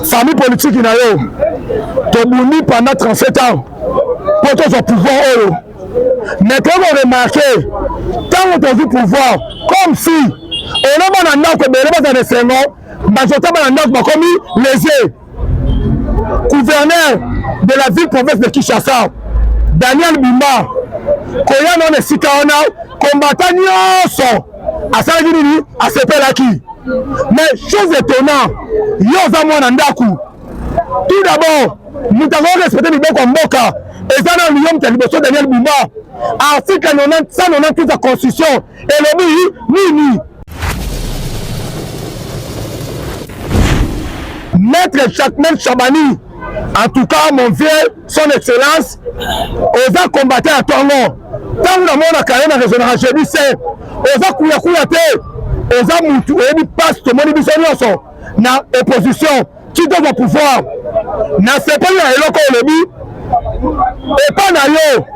famille politique na yo tobundi pendant 37 ans mpo tozwa pouvoir oyo mais toyei koremarke ntango tozwi pouvoir comme si oloma na ndako ebele baza na esengo bazotaba na ndako bakomi lese gouverneur de la ville province de Kinshasa Daniel Bimba koya na esika wana kombata nyonso asalaki nini asepelaki mais chose étonnant yo oza mwana ndako tout d'abord moto akoki respecte mibeko ya mboka eza na liyo moto ya liboso daniel bumba article 198 ya constitution elobi nini maître chakmel chabani en tout cas mon vieux son excellence oza combattant ya tongo ntango namonaka ye na raisonnaka jebi se oza kuyakuya te oza mutu oyebi mpasi tomoni biso nyonso na opposition Kito ba pouvoir na sepeli na eloko olobi epa na yo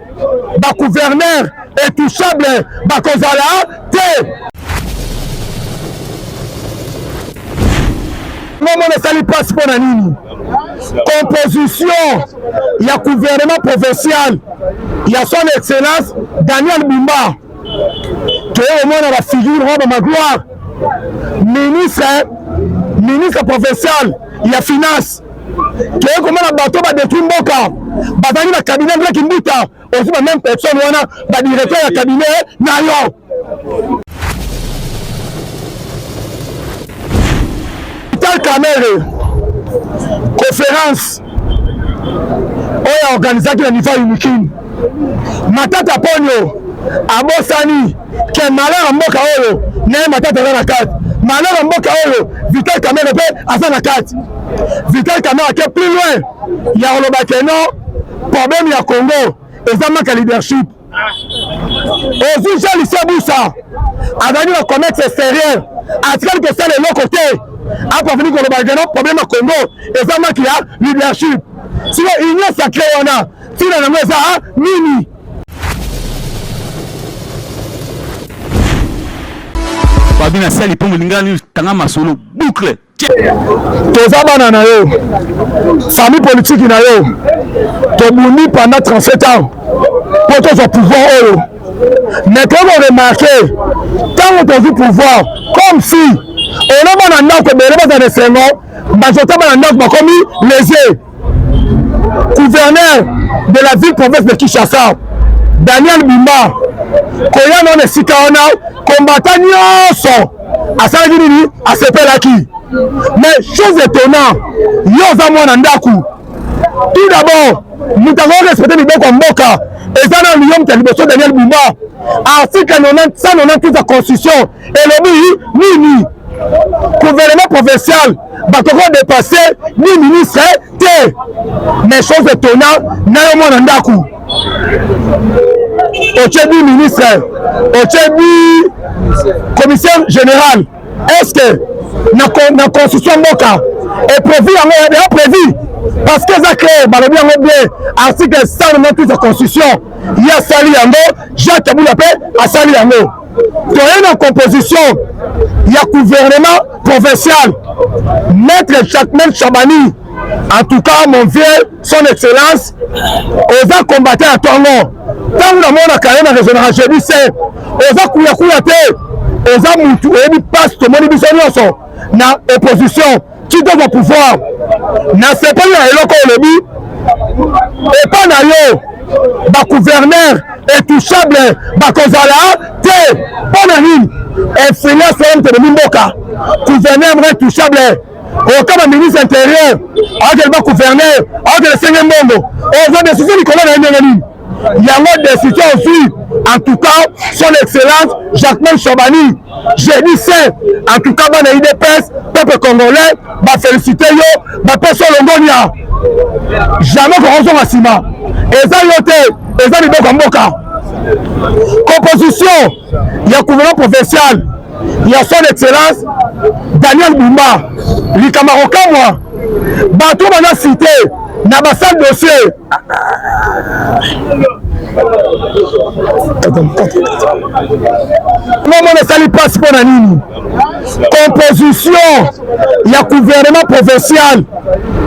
ba gouverneur etouchable bakozala te omona esali mpasi mpo na nini composition ya gouvernement provincial ya son excellence daniel bumba toye komona ba figure mwa ba magloire ministre ministre provincial ya finance toye komona bato badetruit mboka bazalaki na cabinet mpe kimbuta osi ba même personne wana badirecteur ya cabinet na yo vital kamere conférence oyo aorganisaki na niveau ya unikin Matata Ponyo abosani ke malheur ya mboka oyo naye Matata aza na kati, malheur ya mboka oyo Vital Kamerhe mpe aza na kati. Vital Kamerhe ake plus loin ya koloba ke non problème ya Congo eza maka leadership ozwi jean lucie busa azalaki na commerce extérieur atikali kosala eloko te apafini koloba geno problème ya congo eza maki ya leadership siko union sacré wana Tina nango eza ah, nini? Babi na sali mpo molinga nini tanga masolo boucle toza bana na yo famille politiki na yo tobundi pendant 37 ans mpo tozwa pouvoir oyo mais toko remarke ntango tozwi pouvoir comme si olobana ndako ebele bazana esengo bazotaba na ndako bakomi lese gouverneur de la ville province de Kinshasa Daniel Bimba koya na esika wana kombata nyonso asalaki nini asepelaki mais chose étonnant yo oza mwana ndako tout d'abord moto akoki respecte mibeko ya mboka eza na liyo moto ya liboso daniel bumba article 198 ya constitution elobi nini gouvernement provincial bakoko dépasse ni ministre te mais chose etona na yo mwana ndako otie bi ministre otie bi commissaire général est ce que na construction mboka eprevu yango ya prévu parce que eza clair balobi yango bien article 198 ya constitution ye asali yango jacques abula mpe asali yango toye na composition ya gouvernement provincial maître jacmel chabani en tout cas mon vieux son excellence oza combattant ya tongo ntango namonaka ye na raisonnaka jebi se oza kuyakuya te oza mutu oyebi mpasi tomoni biso nyonso na opposition kitoko pouvoir nasepeli na eloko olobi epa na yo bagouverneur etouchable bakozala te mpo na nini influence wana moto ebomi mboka gouverneur moko etouchable oka baministre intérieur aokele bagouverneur aokele senge mbongo oza desusu likolo na ye ndenge nini yango desite ozwi en tout cas son excellence jacquemain shabani jeudi saint en tout cas bana idps peuple congolais bafélicite yo bapesi yo longonia jamais kokozonga nsima eza yo te eza liboko ya mboka composition ya gouvernement provincial ya son excellence daniel bumba likambo akokamwa bato bana site na basale dossier mama nasali mpasi mpo na nini composition ya gouvernement provincial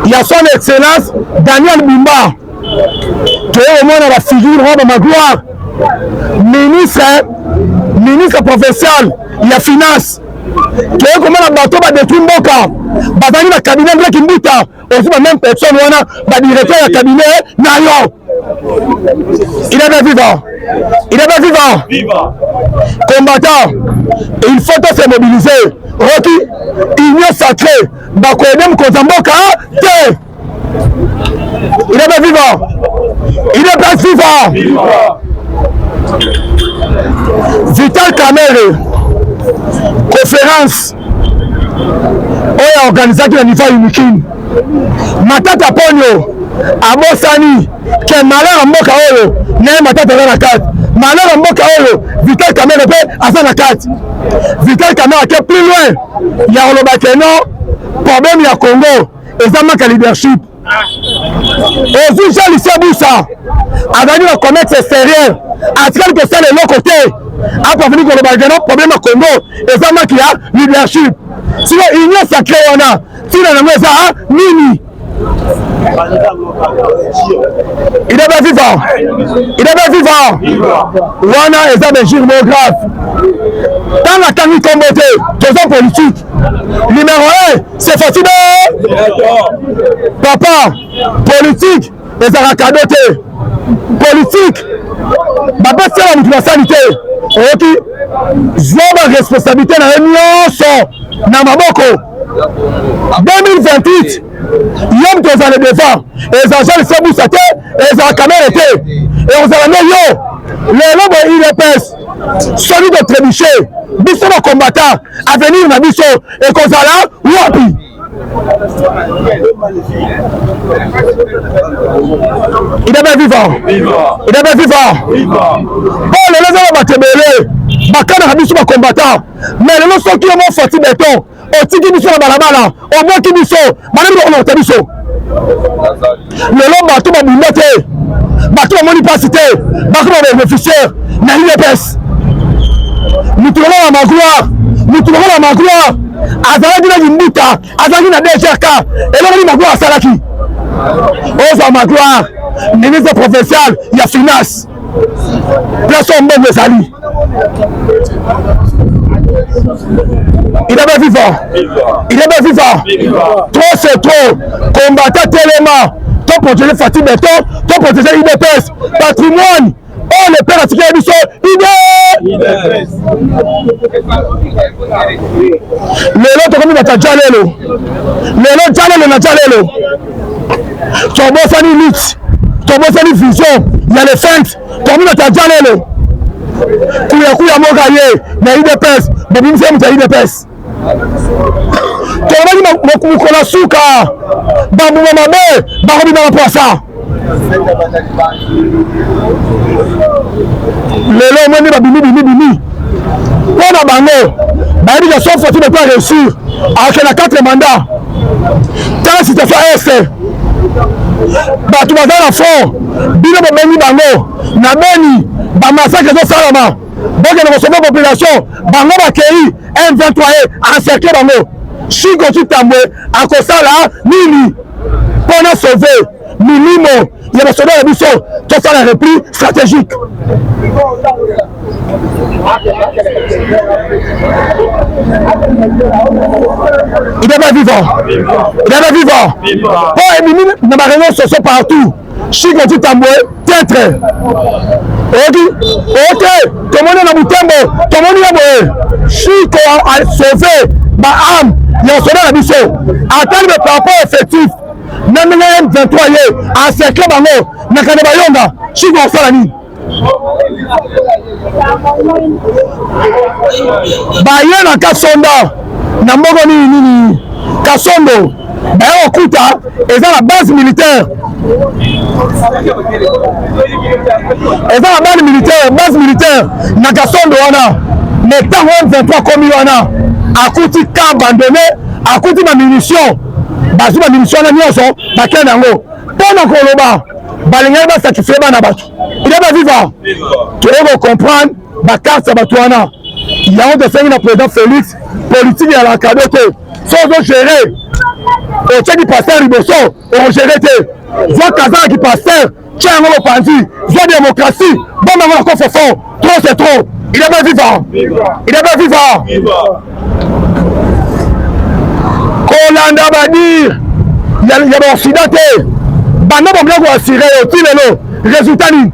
ya son excellence daniel bumba toye komona bafigure oyo bamagloire ministre ministre provincial ya finance toye komona bato badetwi mboka bazali na kabinet ndaki mbuta ozi ba même personne wana ba directeur ya cabinet na yo il est bien vivant il est bien vivant combattant il faut to se mobiliser roki union sacrée bakoyede mokonzi ya mboka te il est bien vivant il est bien vivant vital camere conférence oyo aorganisaki na niveau ya unikin matata ponio abosani ke malheur ya mboka oyo naye matata aza na kati malheur ya mboka oyo vital kamere mpe aza na kati vital kamere ake plus loin ya koloba ke non problème ya congo eza maka leadership ozwi jean lucien busa azalaki na commerce extérieur atikali kosala eloko te apafini koloba gana problème ya congo eza maki ya leadership sino union sacré wana ntina yango eza ah, nini il est bien vivant il est bien vivant wana eza belgique mo grave ntango atangi nkombo te toza politique numéro 1 c'est facile papa politique ezalaka kado te politique bapesela motu basali te oyoki zwa baresponsabilité na ye nyonso na maboko 2028 yo moto ozala devant ezala jean lise busa te ezala kamere te ekozala nde yo lelo boye udps soki totrebuche biso bacombatant avenir na biso ekozala wapi idebe viva idebe viva po lelo eza na bato ebele bakanaka biso bakombatan me lelo soki yo mofati beton otiki biso na balabala obwaki biso bana biloko na kota biso lelo bato babunda te bato bamoni mpasi te bakoma babeneficiaire na udps motu lokola magloire motu lokola magloire azalaki na kimbuta azalaki na dgrk elokoli magloire asalaki ozwa magloire ministre provincial ya finance place oyo mbongo ezali il est bien vivant il est bien vivant trop c'est trop combattant tellement to protéger fati beton to protéger idps patrimoine oyo le père atikela biso ide lelo tokomi bata jalelo lelo jalelo na jalelo tobosani lutte tobosani vision ya le fente communauté ya jalelo kuyakuya moka ye na udps bobimisi ye moto ya udps tolobaki mokolo ya suka bambuma mabe bakobima na pwasa lelo omoni babimi bimi bimi mpo na bango bayebi ke sauf fati beko areussir ake na 4 mandat tala situation este bato baza na fond bino bobengi bango na beni bamasake ezosalama bokende kosopa population bango bakei m23 e encercle bango sikoki tambwe akosala nini mpo na sauve milimo ya basoda na biso tosala repli stratégique il est pas vivant il est pas vivant po ebimi na bareunion soso partout chiko titambwe tetre oyoki oyoki tomoni na butembo tomoni ye boye chiko asauve baame ya basoda na biso atali baparapport effectif na ndenge ya M23 ye acercle bango na kanda bayonga soki bakosala nini baye na kasonda na moko nini nini kasondo baye kokuta eza na base militaire eza na base militaire base militaire na kasondo wana me ntango M23 komi wana akuti ka abandonne akuti bamunition bazwi baminisio wana nyonso bakei na yango mpo na koloba balingaki basatisfai bana bato ide baviva toyei kocomprendre bakarte ya bato wana yango tosengi na président félix politike ya lakado te so ozogere otyaki paster liboso okogere te zwa kazaka kipaster Tia yango mopanzi, zwa demokrasi, bomba yango na coffre fort. Trop c'est trop. Il est bien vivant. Il est bien vivant. Kolanda badir ya baoccident te banda bakoya koasire yo ti lelo résultat nini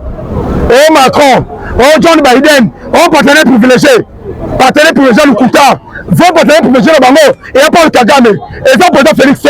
o oh, macron o oh, john biden o oh, partenaire privilégié partenaire privilégié lokuta vos partenaire privilégié na bango eya paul kagame eza président félix te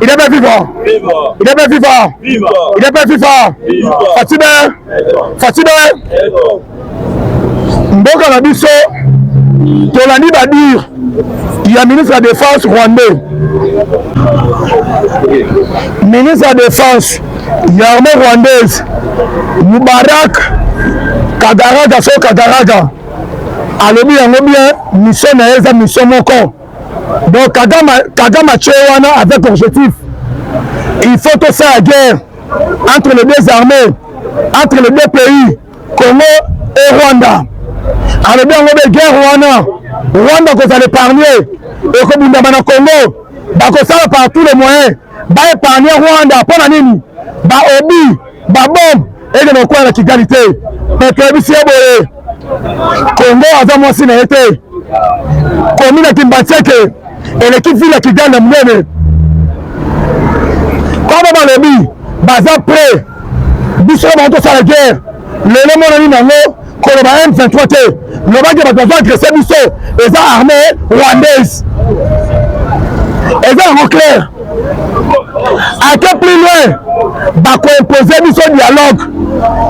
Il est bien vivant. Il est bien vivant. Il est bien vivant. Fatime. Fatime. Mboka na biso tolandi badire ya ministre ya défense rwandais ministre ya défense ya armée rwandaise mubarak kagaraga so kagaraga alobi yango bien mission na ye eza mission moko donc kagama kagama tse wana avec objectif il faut tosala guerre entre les deux armées entre les deux pays congo et rwanda alobi yango be guerre wana rwanda kozala épargne ekobundama na congo bakosala par tous les moyens baépargne rwanda mpo na nini baobi babombe ekende kokwela na kigali te mpe toyebisi ye boye kongo aza mwasi na ye te komi na kimbanseke eleki vile ya kigali na monene koma balobi baza pre biso bango tosala guerre lelo emonani nango koloba M23 te loba ke bato bazo agresse biso eza armée rwandaise eza yango claire ake plus loin bakoimpose biso dialogue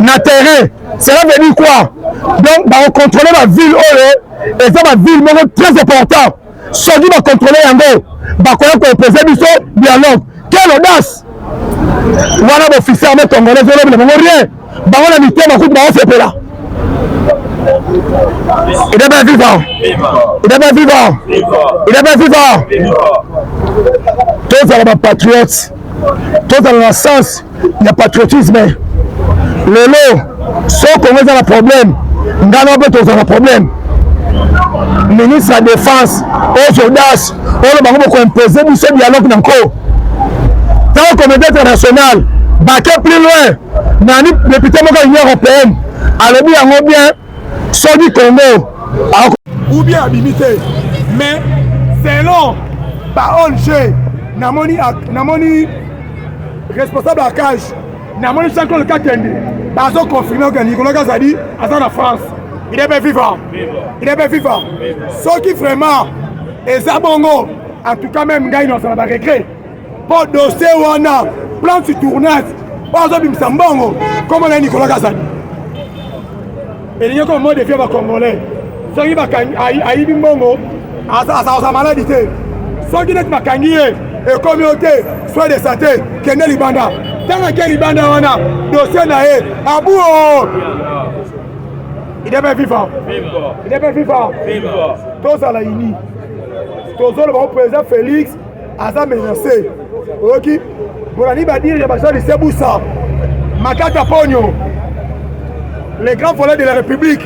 na terrain cela veut dire quoi donc bakocontrole baville oyo eza baville moko très important soki ba controle yango bakoya ko opposer biso dialogue quelle audace wana bofisi arme congolaise olobi na bango rien bango na mitema kutu baosepela il est bien vivant il est bien vivant il est bien vivant tozala bapatriote tozala na sens ya patriotisme lelo so kongo eza na problème ngai na mpe tozala na problème ministre ya défense ozodas oyo bango bokoimpose biso dialogue na nko ntango comité international bake plus loin nani député moko ya union européenne alobi yango bien soki congo ou bien abimi te mais selon baong namoni namoni responsable ya cage namoni jean claude kakende bazo confirme ke nicolas kazadi aza na france il est bien vivant il est bien vivant soki vraiment eza bongo en tout cas même ngai naosala baregret mpo dossier wana plan sur tournage oyo azobimisa mbongo nkombo na ye nicolas kazadi elingi koma mo defie bacongolais soki ayibi mbongo aza maladi te soki neti bakangi ye ekomi yo te soin de sante kende libanda ntango ake libanda wana dossier na ye abuo idebe viva idebe viva tozala ini tozoloba o président félix aza menase oyoki bolani badire ya baza lisebusa makata ponyo le grand volet de la république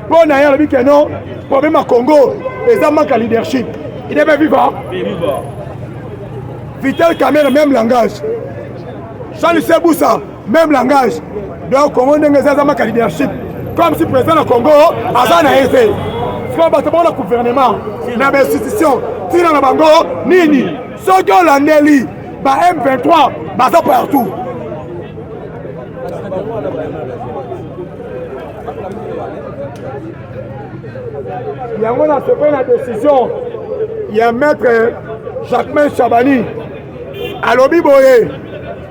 mpo na ye alobi ke non problème ya congo eza manque ya leadership il est bien vivant vital camere même langage charles sebusa Même langage. Donc Congo ndenge eza maka leadership. Comme si président na Congo aza na ese. Sikoyo bato bango na gouvernement na bainstitution ntina na bango nini soki olandeli ba M23 baza partout yango nasepeli na décision ya maître jacquemain chabani alobi boye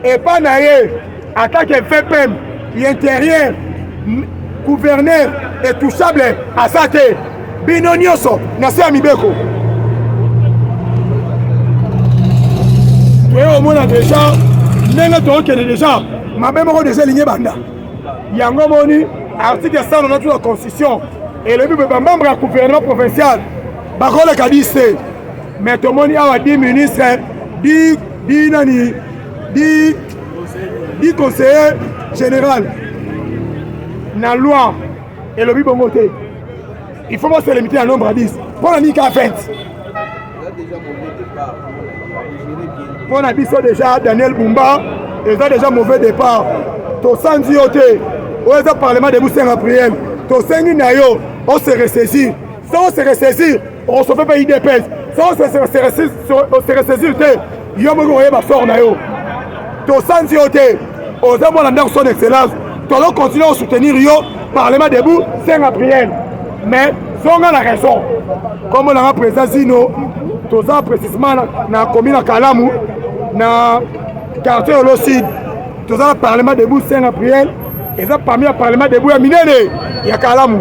epa na ye atake vpm l'interieur gouverneur etouchable aza te bino nyonso na se ya mibeko toye omona deja ndenge tookende deja mabe moko deja elingi ebanda yango moni article 192 ya constitution elobi bamembre ya gouvernement provincial bakoleka 10 te Mais tomoni awa dit ministre, dit dit nani, dit dit conseiller général na loi elobi bongo te. Il faut pas se limiter à nombre à 10. Pour la Nika 20. Pour la biso déjà Daniel Bumba, ils ont déjà mauvais départ. Tosanzi yo te. Oyo eza parlement de Busenga prière. Tosengi na yo, on se ressaisir. Ça on se ressaisir. On se fait pas IDPS. Ça, on se ressaisir te. Yo moko oyeba sort na yo. Tosanzi yo te. Oza mwana ndako son excellence. Tolo continue à soutenir yo. Parlement debout, c'est la prière. Mais, zonga la raison. Comme on a président Zino, toza précisément na commune à Kalamu, na quartier Olo Sud. Toza parlement debout, c'est la prière. Et ça, parmi le parlement debout, il y a Minene, il y a Kalamu.